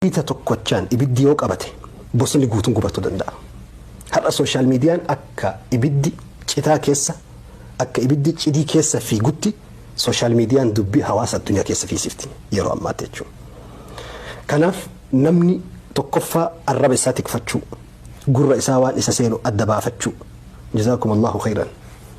Wayita tokkochaan ibiddi yoo qabate bosonni guutuun gubachuu danda'a. Har'a sooshaal miidiyaan akka ibiddi citaa keessa, akka ibiddi cidii keessa fiigutti sooshaal miidiyaan dubbii hawaasa addunyaa keessa fiisifti yeroo ammaatti jechuudha. Kanaaf namni tokkoffaa arraba isaa tikfachuu, gurra isaa waan isa seenu adda baafachuu. Jazaakum Allaahu khayran.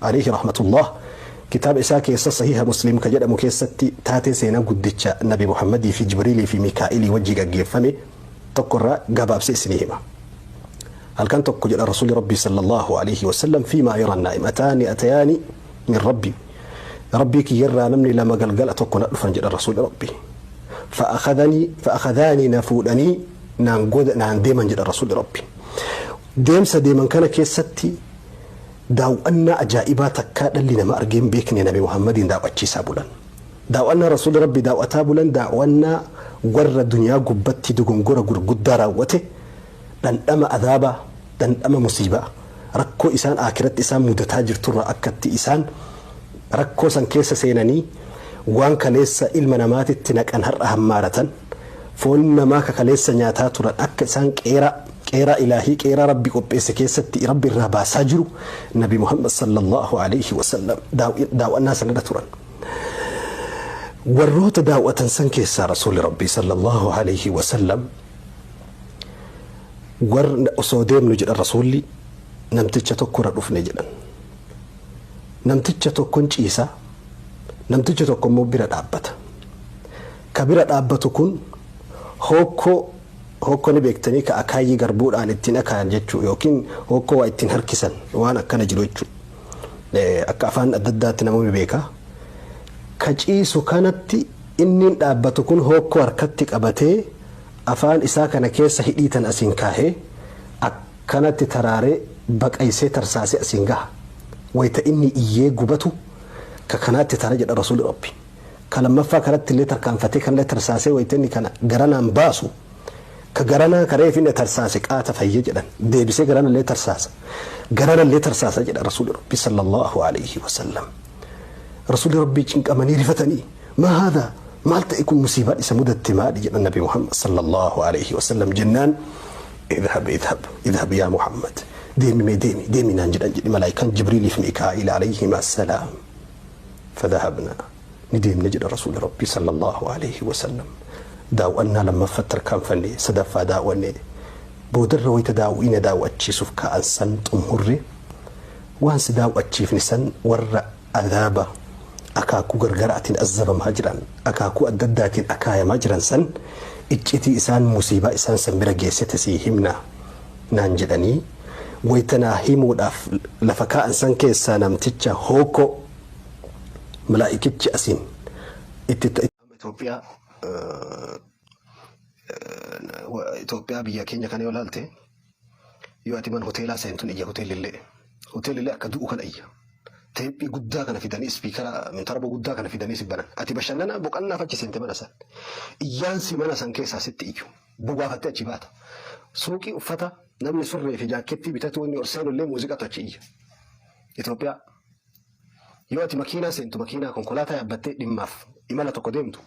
Aleyhi rahmatullaah kitaaba isaa keessa sahiiha muslim ka jedhamu keessatti taatee seenaa guddicha nabi muhammadii fi jibriilii fi miikaa'ilii wajji gaggeeffame tokko irraa gabaabsee isinii hima halkan tokko jedha rasuuli rabbii sallallahu aleyhi wasallam fiimaa yaran naa'imataani atayaani min rabbii rabbii kiyyarraa namni lama galgala tokko na dhufan jedha rasuuli rabbii fa'akadanii fa'akadaanii na fuudhanii naan goda naan deeman jedha rasuuli rabbii deemsa deeman kana keessatti Daaw'annaa ajaa'ibaa takkaa dhalli nama argee hin beekne nabi Muhammadiin daaw'achiisaa bulan. Daaw'annaa Rasuulli Rabbii daaw'ataa bulan daaw'annaa warra dunyaa gubbatti dogongora gurguddaa raawwate, dhandhama azaabaa, dhandhama musiibaa, rakkoo isaan Aakhiratti isaan mudataa jirturraa akka itti isaan rakkoo san keessa seenanii waan kaleessa ilma namaatitti naqan har'a hammaaratan, Foon namaa ka kaleessa nyaataa turan akka isaan qeeraa, qeeraa Ilaahii, qeeraa Rabbi qopheesse keessatti Rabbi irraa baasaa jiru Nabi Muhammad sallallaahu aleyhi wa sallam daaw'annaa san irra turan. Warroota daaw'atan san keessaa Rasuulli Rabbii sallallaahu aleyhi wa sallam osoo deemnu jedhan Rasuulli namticha tokko irra dhufne jedhan. Namticha tokkon ciisa, namticha tokko immoo bira dhaabbata. Ka bira dhaabbatu kun hookkoo, hookkoo ni beektanii ka akaayyii garbuudhaan ittiin akaayan jechuu yookiin hookkoo waa ittiin harkisan waan akkana jiru jechuu. Akka afaan adda addaatti namoonni beeka. Ka ciisu kanatti inniin dhaabbatu kun hookkoo harkatti qabatee afaan isaa kana keessa hidhii tana asiin kaahee akkanatti taraaree baqaysee tarsaasee asiin gaha. Wayta inni iyyee gubatu ka kanaatti tara jedha Rasuulli Rabbii. ka lammaffaa karatti illee tarkaanfatee kan illee tarsaasee wayita inni kana garanaan baasu ka garanaa ka reefi inni tarsaase qaata fayya jedhan deebisee garana illee tarsaasa garana illee tarsaasa jedha rasuuli rabbii sallallahu alayhi wasallam rasuuli rabbii cinqamanii rifatanii maa haadaa maal ta'e kun musiibaan isa mudatte maali jedhan nabi muhammad sallallahu alayhi wasallam jennaan idhab idhab idhab yaa muhammad deemi mee deemi deemi naan jedhan jedhi malaayikaan jibriiliif mikaa'il alayhim assalaam Fadhahabnaa, ni deemne jedha Rasuulli Rabbii sallallaahu aleeyhi wasallam. Daaw'annaa lammaffatti tarkaanfanne, sadaffaa daaw'anne. Boodarra wayta daaw'iina daaw'achiisuuf ka'an san xummurre, waan si daaw'achiifne san warra azaaba akaakuu gargaraatiin azzabamaa jiran, akaakuu adda addaatiin akaayamaa jiran san iccitii isaan musiibaa isaan san bira geessite sii himna. naan jedhanii wayta naa himuudhaaf lafa kaa'an san keessaa namticha hookkoo malaa'ikichi asiin itti ta'e Itoophiyaa Itoophiyaa biyya keenya kana yoo ilaalte yoo ati mana hoteelaa seentun iyya hoteelillee hoteelillee akka du'u kana iyya teephii guddaa kana fidanii ispiikara mintaraba guddaa kana fidanii si banan ati bashannanaa boqannaaf achi seente mana san iyyaansi mana san keessaa sitti iyyu. bobaafattee achi baata. Suuqii uffata namni surree fi jaakkettii bitatu inni ol seenu illee muuziqatu achi iyya. Itoophiyaa. Yoo ati makiinaa seentu makiinaa konkolaataa yaabbattee dhimmaaf imala tokko deemtu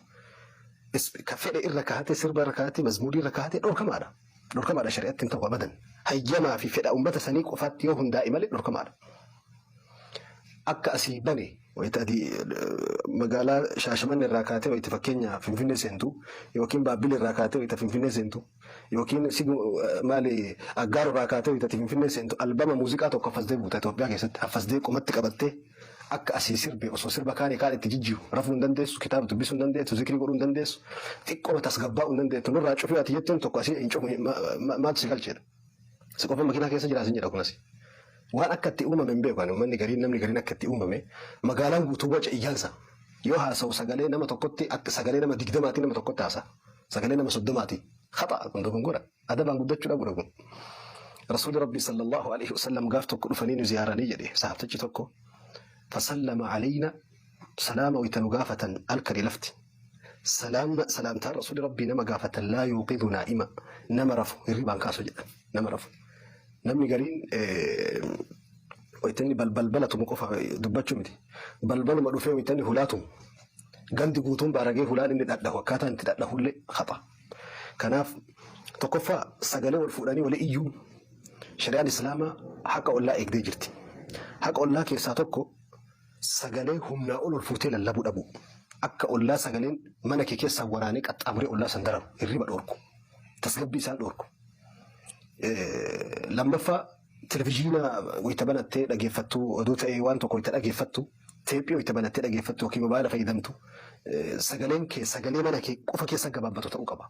ka fedhe irra kaa'atee sirba irra kaa'atee mazmuudii irra kaa'atee dhorkamaadha. Dhorkamaadha shari'atti hin ta'u abadan. Hayyamaa fi fedha uummata sanii qofaatti yoo hundaa'e malee dhorkamaadha. Akka asii bane Wayita ati magaalaa Shaashimanne irraa kaatee wayita fakkeenya Finfinnee seentu yookiin Baabbil irraa kaatee wayita Finfinnee seentu yookiin maali Aggaar irraa kaatee wayita ati Finfinnee seentu albama muuziqaa tokko affasdee buuta Itoophiyaa keessatti affasdee qomatti qabattee akka asii sirbe osoo sirba kaanii kaan itti jijjiiru rafuu hin dandeessu kitaaba dubbisuu hin dandeessu zikrii godhuu hin dandeessu xiqqoo tasgabbaa'uu hin dandeessu nurraa cufii ati jettuun tokko asii hin cufu maaltu si galcheedha. Isa qofa makinaa keessa jiraa sin jedha kunasi. Waan akka itti uumame hin beeku ani uummanni gariin namni gariin akka itti uumame magaalaan guutuu waca iyyaansa. Yoo haasa'u sagalee nama tokkotti akka sagalee nama digdamaatii nama tokkotti haasa'a. Sagalee nama soddomaatii. Haxa'a kun dogongora. Adabaan guddachuu dhabudha kun. Rasuulli Rabbii sallallahu alaihi wasallam gaaf tokko dhufanii nu ziyaaranii jedhe sahaabtichi tokko. Fasallama alayna salaama wayta nu gaafatan halkanii lafti. Salaamna salaamtaan rasuuli rabbii nama gaafatan laa yuuqidhu naa'ima nama rafu hirribaan kaasu jedhan nama rafu namni gariin waytanni balbala tumu qofa dubbachuu miti balbaluma dhufee waytanni hulaa tumu gandi guutuun baaragee hulaan inni dhadhahu akkaataa itti dhadhahullee hapha kanaaf tokkoffaa sagalee wal fuudhanii wali iyyuu shari'aan islaamaa haqa ollaa eegdee jirti haqa ollaa keessaa tokko Sagalee humnaa ol ol fuutee lallabuu dhabuu. Akka ollaa sagaleen mana kee keessaa waraanee qaxxaamuree ollaa san dararu, hirriba dhoorku, tasgabbii isaan dhoorku. Lammaffaa televizhiina wayita banattee dhageeffattu, oduu ta'ee waan tokko wayita dhageeffattu, teephii wayita banattee dhageeffattu yookiin mobaayila fayyadamtu sagaleen kee sagalee mana kee qofa keessa gabaabbatu ta'uu qaba.